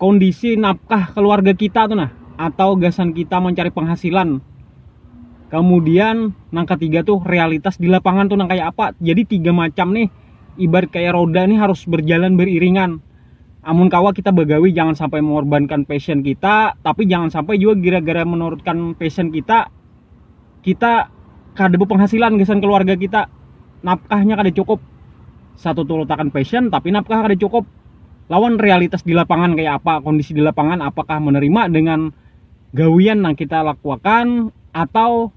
kondisi nafkah keluarga kita tuh nah atau gasan kita mencari penghasilan kemudian nang ketiga tuh realitas di lapangan tuh nang kayak apa jadi tiga macam nih ibarat kayak roda nih harus berjalan beriringan amun kawa kita bagawi jangan sampai mengorbankan passion kita tapi jangan sampai juga gara-gara menurutkan passion kita kita kada berpenghasilan gasan keluarga kita nafkahnya kada cukup satu turutakan passion tapi nafkah kada cukup lawan realitas di lapangan kayak apa kondisi di lapangan apakah menerima dengan gawian yang kita lakukan atau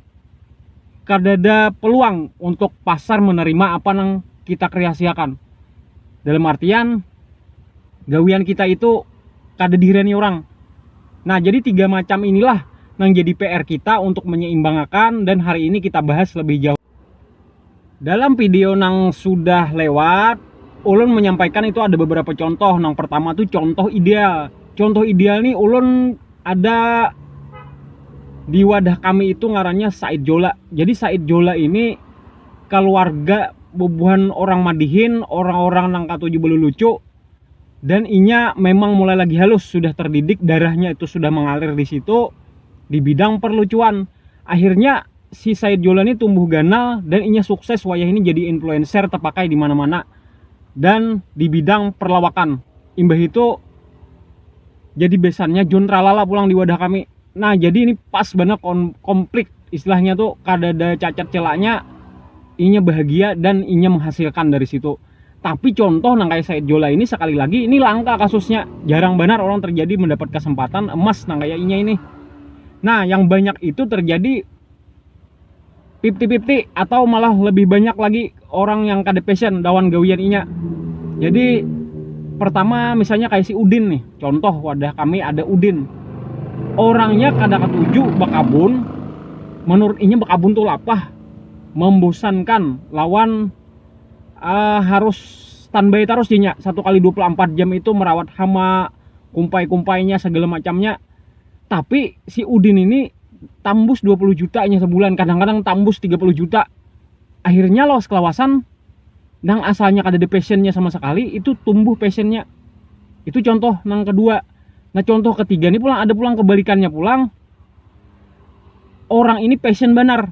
kada ada peluang untuk pasar menerima apa yang kita kreasiakan dalam artian gawian kita itu kada dihirani orang. Nah, jadi tiga macam inilah yang jadi PR kita untuk menyeimbangkan dan hari ini kita bahas lebih jauh. Dalam video yang sudah lewat, ulun menyampaikan itu ada beberapa contoh. Yang pertama tuh contoh ideal. Contoh ideal nih ulun ada di wadah kami itu ngarannya Said Jola. Jadi Said Jola ini keluarga bubuhan orang Madihin, orang-orang nang katuju belulucu, dan inya memang mulai lagi halus sudah terdidik darahnya itu sudah mengalir di situ di bidang perlucuan akhirnya si Said Jolani tumbuh ganal dan inya sukses wayah ini jadi influencer terpakai di mana-mana dan di bidang perlawakan imbah itu jadi besannya John Tralala pulang di wadah kami nah jadi ini pas banget komplit istilahnya tuh kada ada cacat celaknya inya bahagia dan inya menghasilkan dari situ Tapi contoh nang kayak Said Jola ini sekali lagi ini langka kasusnya. Jarang benar orang terjadi mendapat kesempatan emas nang kayak inya ini. Nah, yang banyak itu terjadi pipti-pipti atau malah lebih banyak lagi orang yang kada passion dawan gawian inya. Jadi pertama misalnya kayak si Udin nih, contoh wadah kami ada Udin. Orangnya kada ketuju bakabun, menurut inya bakabun tuh lapah, membosankan lawan uh, harus standby terus ya satu kali 24 jam itu merawat hama kumpai-kumpainya segala macamnya tapi si Udin ini tambus 20 juta nya sebulan kadang-kadang tambus 30 juta akhirnya loh kelawasan nang asalnya kada ada passionnya sama sekali itu tumbuh passionnya itu contoh nang kedua nah contoh ketiga ini pulang ada pulang kebalikannya pulang orang ini passion benar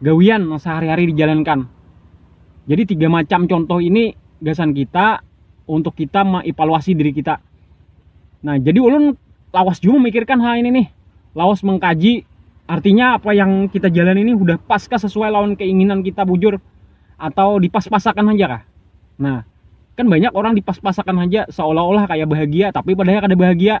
gawian nang sahari-hari dijalankan. Jadi tiga macam contoh ini gasan kita untuk kita mengevaluasi diri kita. Nah, jadi ulun lawas juga memikirkan hal ini nih. Lawas mengkaji artinya apa yang kita jalan ini udah pas kah sesuai lawan keinginan kita bujur atau dipas-pasakan aja kah? Nah, kan banyak orang dipas-pasakan aja seolah-olah kayak bahagia tapi padahal kada bahagia.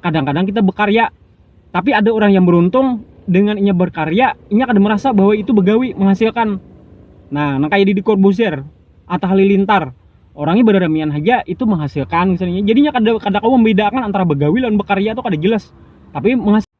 kadang-kadang kita bekarya tapi ada orang yang beruntung dengan inya berkarya inya kada merasa bahwa itu begawi menghasilkan nah nang kaya di Corbusier atau Halilintar orangnya beramian haja itu menghasilkan misalnya jadinya kada kada kau membedakan antara begawi lawan bekarya itu kada jelas tapi menghasilkan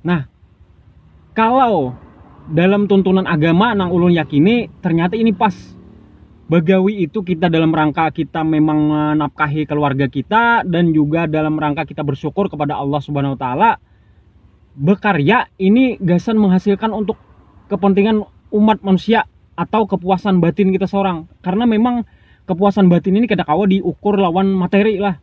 Nah, kalau dalam tuntunan agama nang ulun yakini ternyata ini pas bagawi itu kita dalam rangka kita memang menafkahi keluarga kita dan juga dalam rangka kita bersyukur kepada Allah Subhanahu wa taala bekarya ini gasan menghasilkan untuk kepentingan umat manusia atau kepuasan batin kita seorang karena memang kepuasan batin ini kada kawa diukur lawan materi lah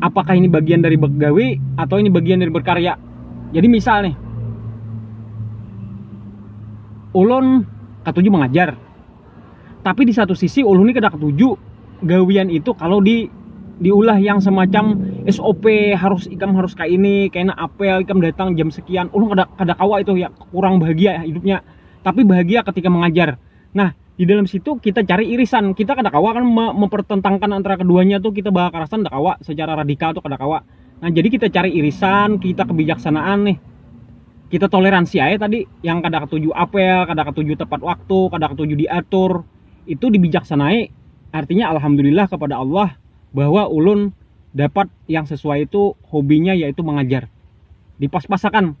apakah ini bagian dari begawi atau ini bagian dari berkarya jadi misal nih ulun ketujuh mengajar tapi di satu sisi ulun ini kada ketujuh gawian itu kalau di diulah yang semacam SOP harus ikam harus kayak ini kena apel ikam datang jam sekian ulun kada kada kawa itu ya kurang bahagia ya hidupnya tapi bahagia ketika mengajar Nah, di dalam situ kita cari irisan. Kita kada kawa kan mempertentangkan antara keduanya tuh kita bawa kerasan kada kawa secara radikal tuh kada kawa. Nah, jadi kita cari irisan, kita kebijaksanaan nih. Kita toleransi aja tadi yang kada ketuju apel, kada ketuju tepat waktu, kada ketuju diatur. Itu dibijaksanai. Artinya alhamdulillah kepada Allah bahwa ulun dapat yang sesuai itu hobinya yaitu mengajar. Dipas-pasakan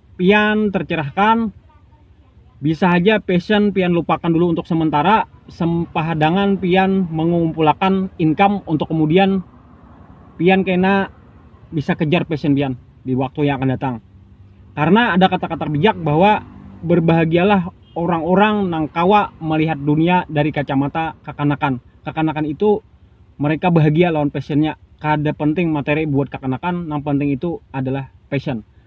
pian tercerahkan bisa saja passion pian lupakan dulu untuk sementara sempahadangan pian mengumpulakan income untuk kemudian pian kena bisa kejar passion pian di waktu yang akan datang karena ada kata-kata bijak bahwa berbahagialah orang-orang nang kawa melihat dunia dari kacamata kekanakan kekanakan itu mereka bahagia lawan passionnya kada penting materi buat kekanakan nang penting itu adalah passion